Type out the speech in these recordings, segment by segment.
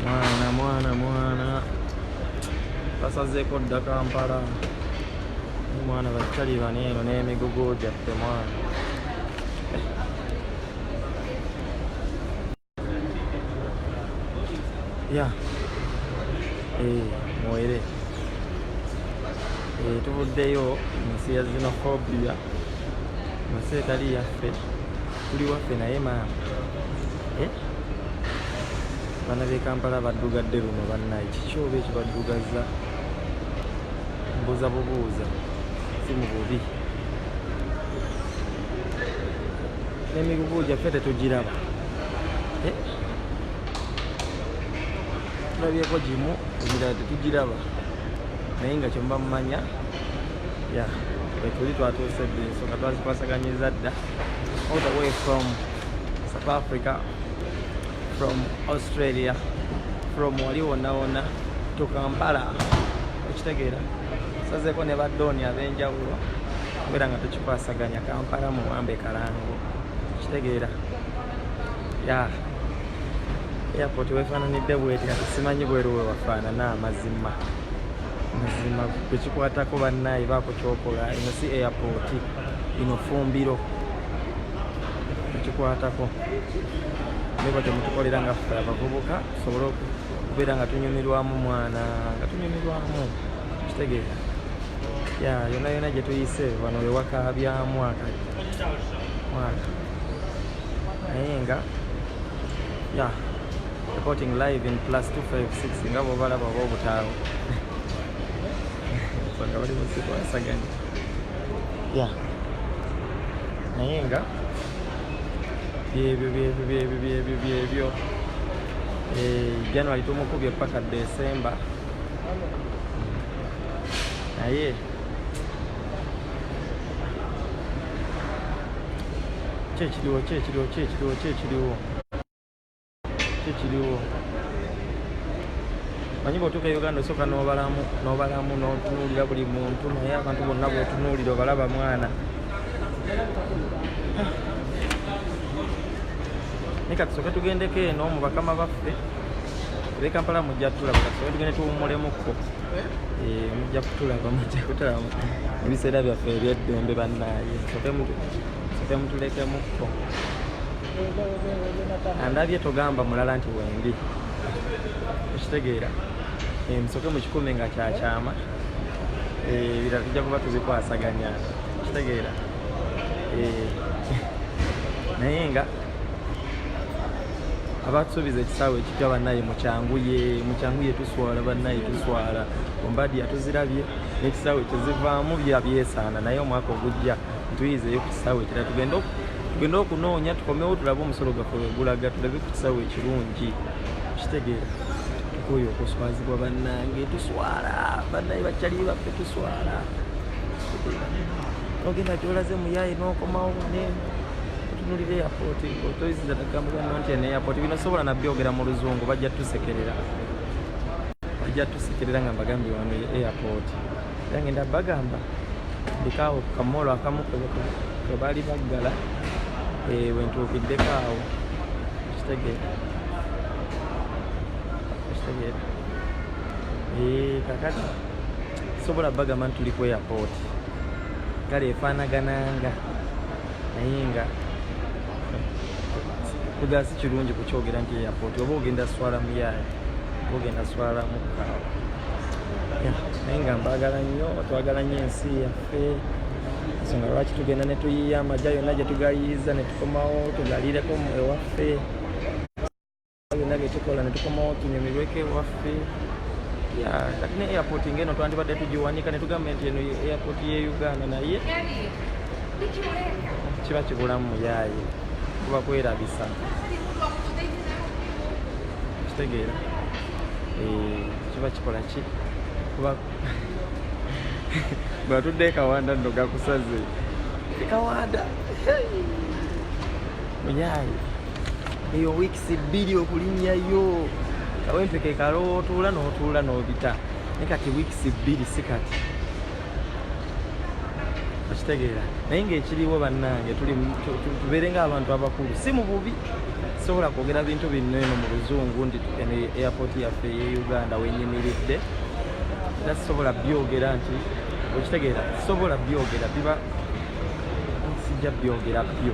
mwana mwana mwana basazeeko dda kampala mwana bakitalibana eno n'emigugu gyaffe mwana ya eh, mwere eh, tuvuddeyo mu nsi ya zinofobia mu nsi etali yaffe tuli waffe naye maama eh? bana bekampala baddugadde luno bannaye kiki oba ekibaddugazza mbuuza bubuuza si mu bubi n'emigugu gyaffe tetugiraba eh? tulabyeko gimu emirala tetugiraba naye nga kyemba mumanya ya etuli twatuuse dde nsonga twazikwasaganyiza dda all the way from South Africa, from Australia, from wali wonna wonna to Kampala okitegeera sazeeko ne baddooni ab'enjawulo kubeera nga tukikwasaganya Kampala muwambe kalango okitegeera ya airport wefaananidde bweti kati simanyi bweru we wafaanana amazima mazima kwekikwatako bannaayi baako kyokola eno si airport lino fumbiro ekikwatako naye batyo mutukolera nga ffe abavubuka tusobole okubeera nga tunyumirwamu mwana nga tunyumirwamu kitegeera ya yona yona gye tuyise wano wewaka bya mwaka mwaka naye nga ya reporting live in plus 256 nga bobalaba oba obutaawo nga bali musikwasaganya ya naye nga byebyo byebyo byebyo byebyo byebyo eh, january tumukubye paka december naye kyekiriwo kyekiriwo kyekiriwo kyekiriwo kikiriwo manyi bwotuuka e uganda osooka nobalamu nobalamu notunuulira buli muntu naye abantu bonna bwotunuulira obalaba mwana naye katusooke tugendeko eno mu bakama baffe be kampala mujja kutulaba katusooke tugende tuwummulemukko eh, mujja kutulaba mujja kutulaba ebiseera byaffe ebyeddembe bannaaye soke mutulekemukko andabye togamba mulala nti wendi okitegeera eh, musoke mukikume nga kyakyama eh, ebirala tujja kuba tuzikwasaganya okitegeera eh, naye nga abatusuubiza ekisaawe ekipya bannaye mukyanguye mukyanguye tuswala bannaye tuswala ombadi yatuzirabye n'ekisaawe kyezivaamu byabyesaana naye omwaka ogujja tuyizeyo ku kisaawe ekira tugende tugende okunoonya tukomewo tulabe omusolo gaffe wegulaga tulabe ku kisaawe ekirungi kitegeera tukoyo okuswazibwa bannange tuswala bannaye bakyali baffe tuswala ogenda gyolaze muyaye nokomawo otunulira eyapooti otoyisiza nagamugano nti eno eyapooti bino sobola nabyogera mu luzungu bajja tusekerera bajja tusekerera nga mbagambye wano eyapooti ngenda bagamba ndikaawo kukamolo akamu kwebaali baggala eh, wentuukiddeko awo kitegeera kitegeera eh, kakati sobola bagamba nti tuli ku airport kale efaanagananga naye nga kudala si kirungi kukyogera nti airport oba ogenda swala muyayi oba ogenda swala mukaawa naye nga mbagala nnyo twagala nnyo ensi yaffe ensonga lwaki tugenda ne tuyiiya amagya yonna gye tugayiiza ne tukomawo tugalireko ewaffe byonna byetukola netukomawo tunyumirweko ewaffe kati ne airport ngeno twandibadde tugiwanika netugamba nti eno airport ye uganda naye kiba kibulamu muyaaye kuba kwerabisa kitegeera eh, kiba kikola ki kuba bwatudde ekawanda nno gakusaze ekawanda muyaaye eyo weeks bbiri okulinnyayo kawempe ke kaloowa otuula n'otuula n'obita naye kati weeks bbiri si kati okitegeera naye ng'ekiriwo bannange tubeere ng'abantu abakulu si mu bubi sobola kwogera bintu binno eno mu luzungu nti eno airport yaffe eye uganda wenyimiridde era sisobola byogera nti okitegeera sisobola byogera biba sijja byogera byo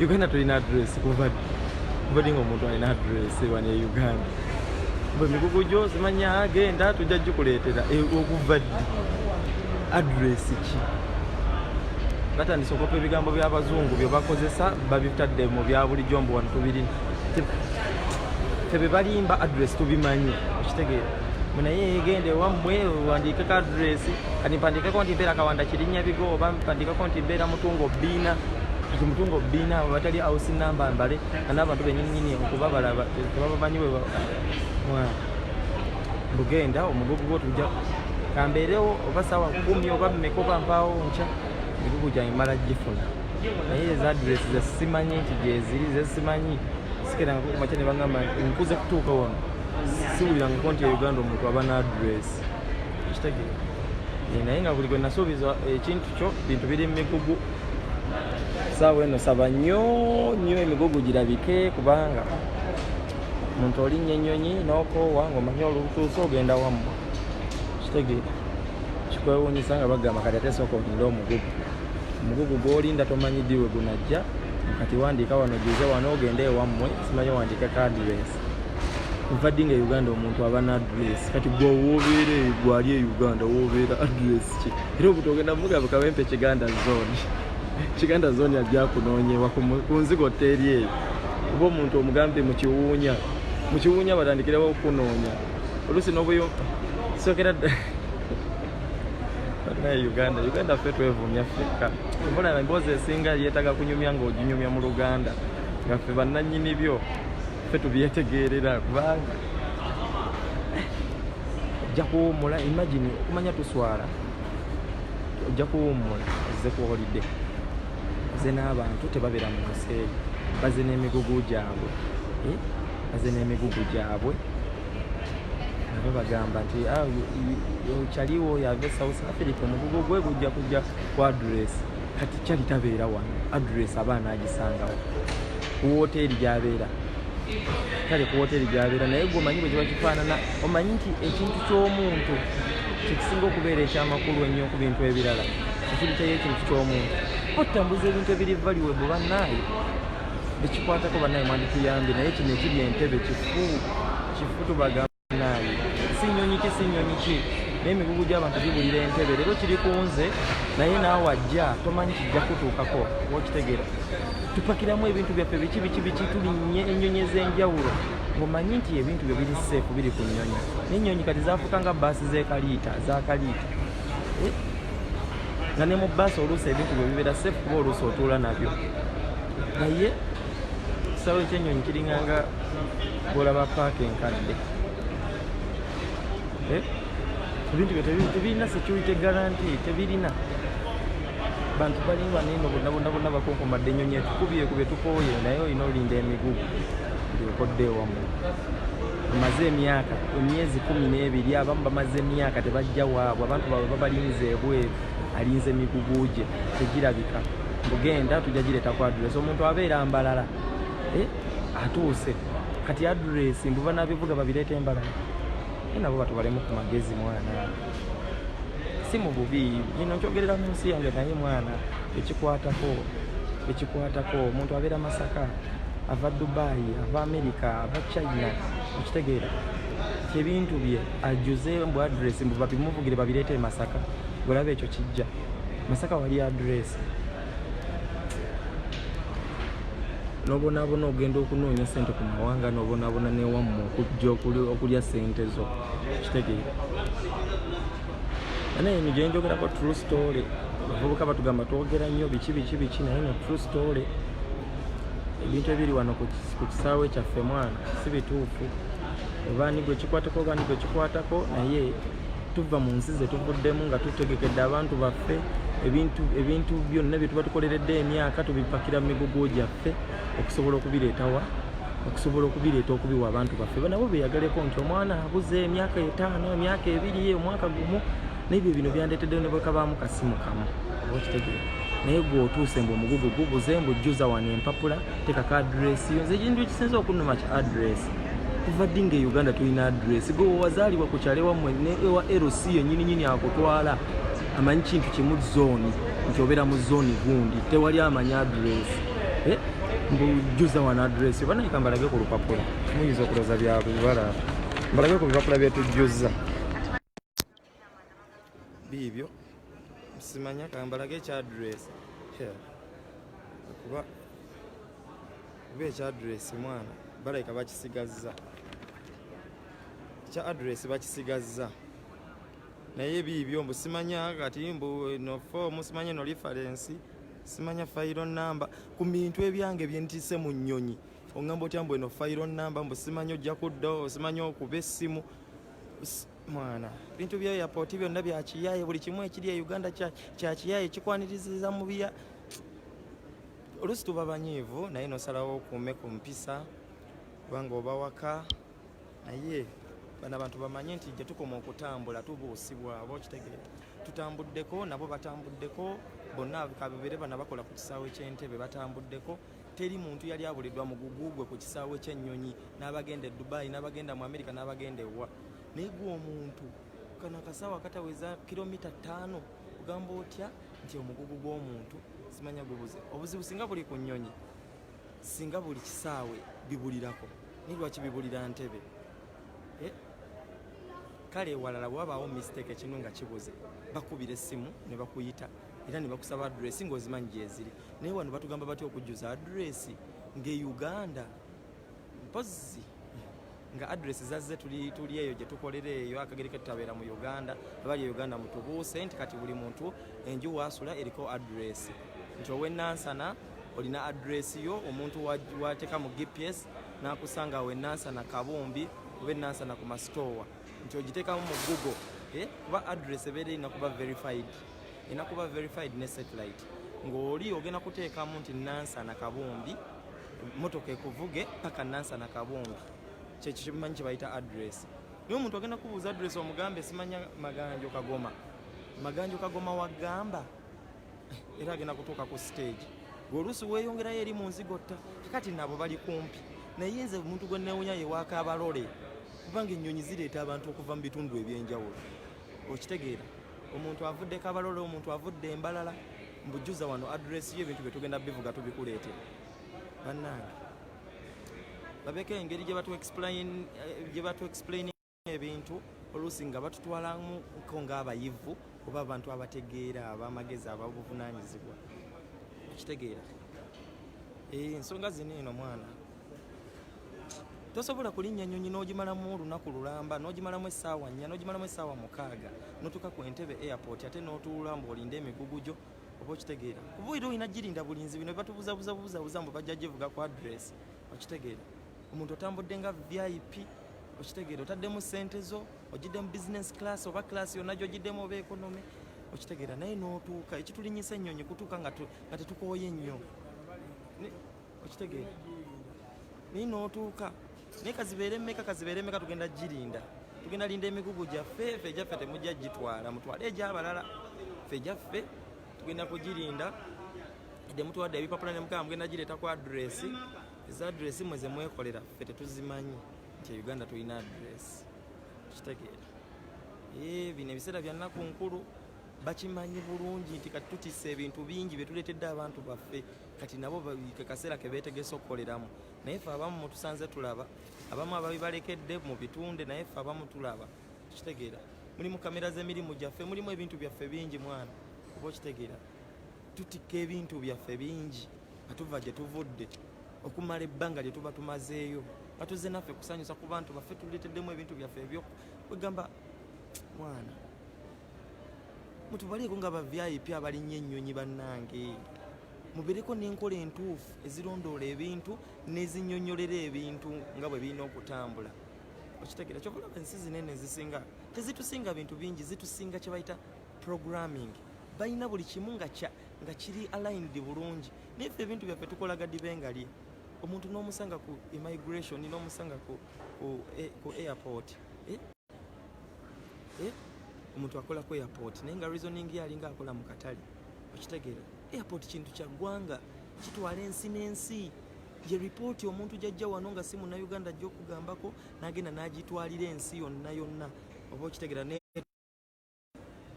Uganda tulina address kuva kuva dinga omuntu alina address wano e Uganda bwe migugu gyo zimanya agenda tujja gikuleetera e, okuva ddi address ki batandise okopa ebigambo by'abazungu bye bakozesa babitadde mu bya bulijjo mbu wano tubirina tebe balimba address tubimanyi okitegeera munaye egenda ewammwe wandiikeko address kati mpandiikeko nti mbeera kawanda kirinya bigo oba mpandiikeko nti mbeera mutungo bbiina nti mutunga obubiina abo batali house number mbale ana abantu benyininyini okuba balaba tebabamanyi bugenda omugugu gwo tujja kambeerewo oba sawa kumi oba mmeka oba mpaawo nkya emigugu gyange mala gifuna naye ezadresi zesimanyi nti gyeziri zesimanyi sikeranga kukumakya ne bagamba nkuze kutuuka wano siwulirangako nti euganda omuntu aba naadresi ekitegeera naye nga buli gwe nasuubiza ekintu kyo bintu biri mu migugu saawa eno saba nnyo nnyo emigugu girabike kubanga omuntu olinnya ennyonyi n'okoowa ng'omanyi olutuuse ogenda wamu kitegeera kikwewuunyisa nga bagamba kati ate sooka olinde omugugu omugugu gw'olinda tomanyi ddi we gunajja kati wandiika wano gize wano ogende ewammwe simanyi wandiika kadireesi nva ddi nga e uganda omuntu aba na address kati gwewoobeera gwali e uganda woobeera address era omuntu ogenda mugambe kawempe kiganda zone kiganda zone ajja kunoonyewa ku nzigo teeri eyo oba omuntu omugambe mukiwuunya mukiwuunya batandikirawo okunoonya oluusi nobuyo sokera naye uganda uganda ffe twevumya ffekka mbulaba emboozi esinga yeetaga kunyumya ngaoginyumya mu luganda nga ffe bannanyini byo ffe tubyetegeerera kubanga ojja kuwummula imagine okumanya tuswala ojja kuwummula ozze ku holide baze n'abantu tebabeera mu nsi eyo baze n'emigugu gyabwe eh? baze n'emigugu gyabwe nabo bagamba nti ah, kyaliwo yave south africa omugugu gwe gujja kujja ku adresi kati kyali tabeera wano adress aba anaagisangawo ku wooteeri gyabeera kale ku wooteeri gyabeera naye gwe omanyi bwe kiba kifaanana omanyi nti ekintu ky'omuntu kyekisinga okubeera ekyamakulu ennyo ku bintu ebirala ekiritayo ekintu ky'omuntu otambuza ebintu ebiri valiwebwe bannaaye bekikwatako bannaaye mwandituyambye naye kino ekiri entebe kifu kifu tubaga si nnyonyi ki si nnyonyi ki naye emigugu gy'abantu gibulira entebe leero kiri ku nze naye naawe ajja tomanyi kijja kutuukako okitegeera tupakiramu ebintu byaffe biki biki biki tulinnye ennyonyi ez'enjawulo ng'omanyi nti ebintu byo biri seefu biri ku nnyonyi n'ennyonyi kati zaafuuka nga baasi z'ekaliita zakaliita eh? nga ne mu baasi oluusi ebintu byo bibeera seefu kuba oluusi otuula nabyo naye ekisaawe ekyennyonyi kiringanga Bwolaba paaka enkadde eh? ebintu byo tebirina security guarantee tebirina bantu bali baneno bonna bonna bonna bakonkomadde ennyonyi etukubye ku betukooye naye olina olinda emigugu byokodde ewamu bamaze emyaka emyezi kumi n'ebiri abamu bamaze emyaka tebajja waabwe abantu baabwe babalinze ebweru alinze emigugu gye tegirabika mbugenda tujja gireeta ku adresi omuntu abeera mbalala eh? atuuse kati address mbu banabivuga babireeta embalala naye nabo batubalemu ku magezi mwana si mu bubi ino nkyogerera mu nsi yange naye mwana ekikwatako ekikwatako omuntu abeera masaka ava dubayi ava amerika ava china okitegeera kyebintu bye ajuze mbu address mbu babimuvugire babireeta e masaka olaba ekyo kijja masaka wali address nobonabona ogenda okunoonya sente ku mawanga nobonabona newammwe okujja okulya sente zo kitegeera naye eno gyenjogerako true story abavubuka batugamba twogera nnyo biki biki biki naye no true story ebintu ebiri wano ku kisaawe kyaffe mwana si bituufu obaani gwekikwatako obaani gwekikwatako naye tuva mu nsi ze tuvuddemu nga tutegekedde abantu baffe ebintu ebintu byonna bye tuba tukoleredde emyaka tubipakira mu migugu gyaffe okusobola okubireetawa okusobola okubireeta okubiwa abantu baffe nabo beyagaleko nti omwana abuze emyaka etaano emyaka ebiri omwaka gumu nebyo bino byandeetedde ne bwekabaamu kasimu kamu oba okitegeera naye gwe otuuse mbu omugugu gubuze mbu jjuza wano empapula tekaka adiresi yo nze ekintu ekisinza okunuma ki adiresi kuva ddi nga e uganda tulina adresi gwe wewazaalibwa ku kyalo ewammwe ne ewa lc yenyini nyini akutwala amanyi kintu kimu zooni nti obeera mu zooni gundi tewali amanyi adresi eh? mbujuza wano adresi oba nayika mbalage ku lupapula muyinza okuloza byabibala mbalage ku bipapula byetujjuza biibyo simanya kambalage ekya address kuba kuba ekya address mwana balabika bakisigazza ekya address bakisigazza naye biibyo mbu simanya kati mbu no fomu simanya no lifarensi simanya fayiro namba ku bintu ebyange byentise mu nnyonyi oŋamba otya mbu eno fayiro namba mbu simanya ojja kuddawo simanya okuba essimu mwana bintu bya airport byonna bya kiyaye buli kimu ekiri e uganda kya kiyaye kikwaniriziza mu biya olusi tuba banyiivu naye nosalawo okuume ku mpisa kubanga oba waka naye bano abantu bamanye nti gye tukoma okutambula tubuusibwa aba okitegeera tutambuddeko nabo batambuddeko bonna kabibeere bana bakola ku kisaawe ky'entebe batambuddeko teri muntu yali abulidwa mugugu gwe ku kisaawe ky'ennyonyi n'abagenda e dubayi n'abagenda mu amerika n'abagenda ewa naye gwe omuntu kano akasaawa akataweza kilomita ttaano ogamba otya nti omugugu gw'omuntu simanya gubuze obuzibu singa buli ku nnyonyi singa buli kisaawe bibulirako naye lwaki bibulira ntebe eh? kale ewalala wabaawo mistake ekinu nga kibuze bakubira essimu ne bakuyita era ne bakusaba address ng'ozimanyi gyeziri naye wano batugamba batya okujjuza address ng'e uganda mpozi nga address zazze tuli tuli eyo gye tukolera eyo akagere ke tutabeera mu uganda abali e uganda mutubuuse nti kati buli muntu enju waasula eriko address nti owenansana olina address yo omuntu wateeka mu gps n'akusanga wenansana kabumbi oba enansana ku masitoowa nti ogiteekamu mu google eh, kuba address ebeera erina kuba verified ena kuba verified ne satellite ng'oli ogenda kuteekamu nti nansana kabumbi motoka ekuvuge paka nansana kabumbi kyekyo kyemanyi kyebayita address naye omuntu agenda kubuuza address omugambe simanya maganjo kagoma maganjo kagoma wagamba era agenda kutuuka ku stage oluusi weeyongerayo eri mu nzigotta kati nabo bali kumpi naye nze omuntu gwe newunya yewaaka abalole kubanga ennyonyi zireeta abantu okuva mu bitundu ebyenjawulo okitegeera omuntu avudde kabalole omuntu avudde embalala mbujuza wano adresi yo ebintu byetugenda bivuga tubikuleete bannange babeeko engeri gye batu eh, explain ebintu oluusi nga batutwalamuko ng'abayivu oba abantu abategeera abamagezi ababuvunanyizibwa okitegeera eh, ensonga zino eno mwana tosobola kulinnya nnyonyi n'ogimalamu olunaku lulamba n'ogimalamu essaawa nnya n'ogimalamu essaawa mukaaga notuuka ku entebe airport ate n'otuula mbuolinda emigugu gyo oba okitegeera kuba era olina girinda bulinzi bino batubuzabuza buzabuza mbu bajja givuga ku adress okitegeera omuntu otambudde nga vip okitegeera otaddemu sente zo ogiddemu business class oba class yonna gyogiddemu oba economy okitegeera naye n'otuuka ekitulinyisa ennyonyi kutuuka nga tetukooye nnyo okitegeera naye nootuuka naye kazibeere meka kazibeere meka tugenda girinda tugenda linda emigugu gyaffe fe gyaffe temujja gitwala mutwale egyabalala fe gyaffe tugenda kugirinda edde mutwadde ebipapula ne mukama mugenda gireeta ku adresi eza adresi mwe ze mwekolera fe tetuzimanyi nti e uganda tulina adresi okitegeera eh, bino ebiseera byannaku nkulu bakimanyi bulungi nti kati tutisa ebintu bingi byetuleetedde abantu baffe kati nabo kekaseera kebetegese okukoleramu naye fe abamu mutusanze tulaba abamu ababibalekedde mu bitunde naye fe abamu tulaba kitegeera mulimu kamera z'emirimu gyaffe mulimu ebintu byaffe bingi mwana oba okitegeera tutikka ebintu byaffe bingi nga tuva gye tuvudde okumala ebbanga lye tuba tumazeeyo nga tuzze naffe kusanyusa ku bantu baffe tuleeteddemu ebintu byaffe ebyo kwegamba mwana mutubaleeko nga ba vip abalinnya ennyonyi bannange mubeereko n'enkola entuufu ezirondoola ebintu n'ezinyonyolera ebintu nga bwe birina okutambula okitegera kyova olaba ensi zinene ezisinga tezitusinga bintu bingi zitusinga kye bayita programming balina buli kimu nga kiri aligned bulungi naye ffe ebintu byaffe tukola gadibe nga lye omuntu n'omusanga ku immigration n'omusanga ku, ku, eh, ku airport eh? eh? omuntu akola ku airport naye nga reasoning ye alinga akola mu katale okitegeera airport kintu kya ggwanga kitwala ensi n'ensi ye ripooti omuntu jajja wano nga si munauganda ajja okugambako nagenda nagitwalira ensi yonna yonna oba okitegeera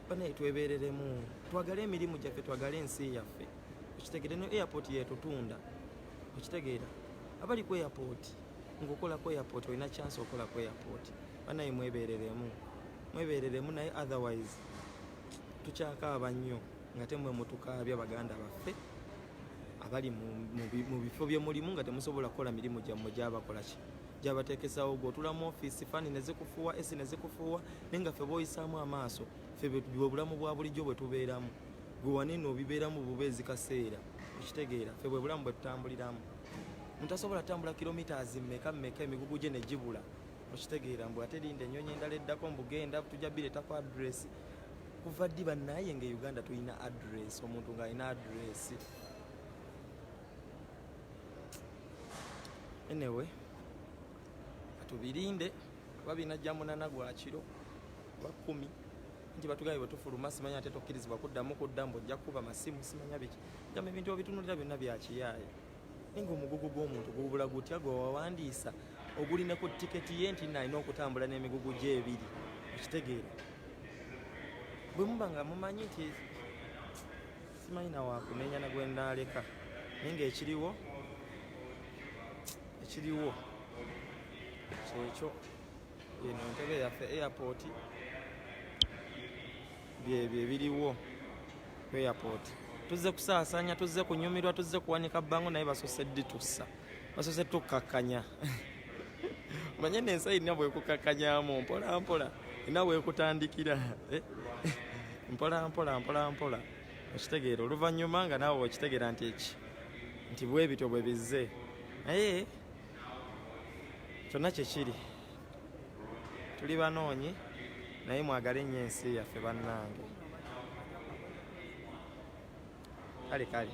banaye twebereremu twagale emirimu gyaffe twagale ensi yaffe okitegere no airport yetutunda okitegeera abali ku airport ngaokola ku airport olina chance okola ku airport banaye mwebereremu mwebereremu naye otherwise tukyakaaba nnyo nga temwe mutukaabya baganda baffe abali mu bifo bye mulimu nga temusobola kukola mirimu gyammwe gyabakolaki gyabateekesawo gwe otula mu ofiisi fani nezikufuuwa esi nezikufuuwa naye nga ffe boyisaamu amaaso ffe bwe bulamu bwa bulijjo bwe tubeeramu gwe wanene obibeeramu buba ezikaseera okitegeera ffe bwe bulamu bwe tutambuliramu mutasobola kutambula kilomitas mmeka mmeka emigugu gye ne gibula okitegeera mbu ate linda ennyonyi endala eddako mbugenda tujja bireetako adresi kuva ddi bannaye nga e uganda tulina adresi omuntu ng'alina adresi anyway katubirinde oba binajja munana gwa kiro oba kumi nti batugambye bwetufuluma simanya ate tokkirizibwa kuddamu kudda mbu ojja kukuba masimu simanya biki gamba ebintu obitunulira byonna byakiyaayo naye nga omugugu gw'omuntu gubula gutya gwe wawandiisa ogulina ku tiketi ye nti nalina okutambula n'emigugu gye ebiri okitegeera bwe muba nga mumanyi nti simanyi nawakunenya nagwenaaleka naye ngaekiriwo ekiriwo kyekyo eno ntebe yaffe airport byebyo ebiriwo ku airport tuzze kusaasanya tuzze kunyumirwa tuzze kuwanika bango naye basose ditusa basose tukakkanya manye nensi erina bwekukakkanyamu mpolampola erina bwekutandikira eh? mpolampola mpolampola okitegeera oluvannyuma nga naawe okitegeera nti eki nti bwebityo bwe bizze naye kyonna kyekiri tuli banoonyi naye mwagale nnyo ensi yaffe bannange kale kale